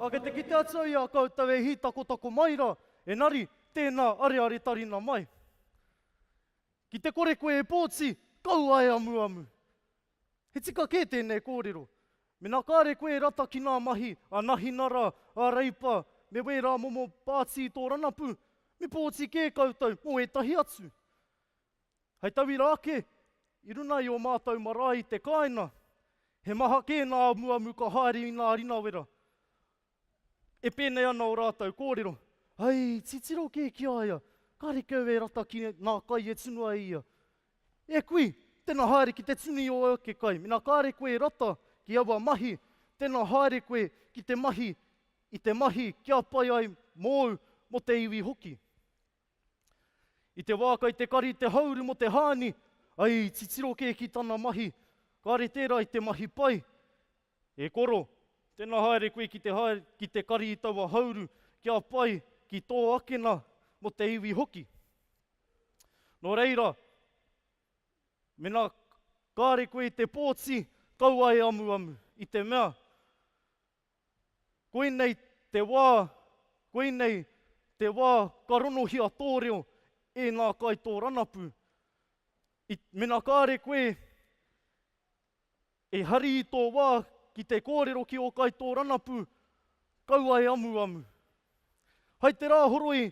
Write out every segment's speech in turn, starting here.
Ā, kei te kite atu i a koutou e hītakotako mai rā, engari tēnā arearetarina mai. Ki te kore koe e pōti, kaua e amuamu. He tika kē tēnei kōrero. Mēnā kāre koe e rata ki ngā mahi a Nahinara, a Reipa, me wērā momo pāti i tō rangapū, me pōti kē koutou mō ētahi atu. Hei tauira ake, i runga i ō mātou marae i te kāinga, he maha kē ngā amuamu ka haere i ngā ringawera. E pēnei ana ō rātou kōrero, Ai, titiro kē ki a ia, kāre kē au e rata ki ngā kai e tunu ai ia. E kui, tēnā haere ki te tunu i ō ake kai. Mēnā kāre koe e rata ki aua mahi, tēnā haere koe ki te mahi i te mahi kia pai ai mōu, mō te iwi hoki. I te wā kai te kari te hauru mo te haani, ai i titiro kē ki tana mahi, kāre tērā i te mahi pai. E koro, tēnā haere koe ki te haere ki te kari i taua hauru kia pai ki tō akena mo te iwi hoki. No reira, mena kāre koe i te pōti, kaua e amuamu, i te mea, Koinei te wā, koinei te wā ka ronohia tō reo e ngā kaitōranapu. I, mena kāre koe e hari i tō wā ki te kōrero ki ō kaitōranapu, kaua e amuamu. Hai te rā horoi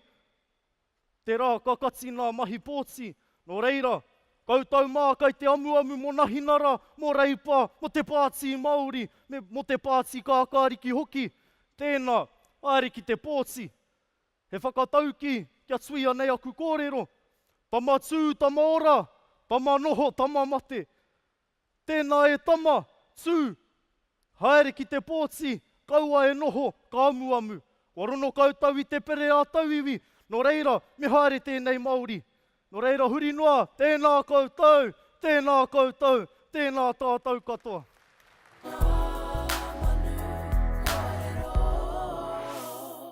Tērā ka kati ngā mahi pōti, nō reira, koutou mā kei te amuamu mō Nahinara, mō Reipa, mō te Pāti Māori, me mō te Pāti Kākāriki hoki, tēnā, haere ki te pōti. He whakataukī kia tuia nei aku kōrero, Tama tū, tama ora, tama noho, tama mate. Tēnā e tama, tū! Haere ki te pōti, kaua e noho, ka amuamu. Kua rono koutou i te pere ā tauiwi, nō reira, me haere tēnei Māori. Nō reira, huri noa, tēnā koutou, tēnā koutou, tēnā tātou katoa. Ngā manu ngahere o.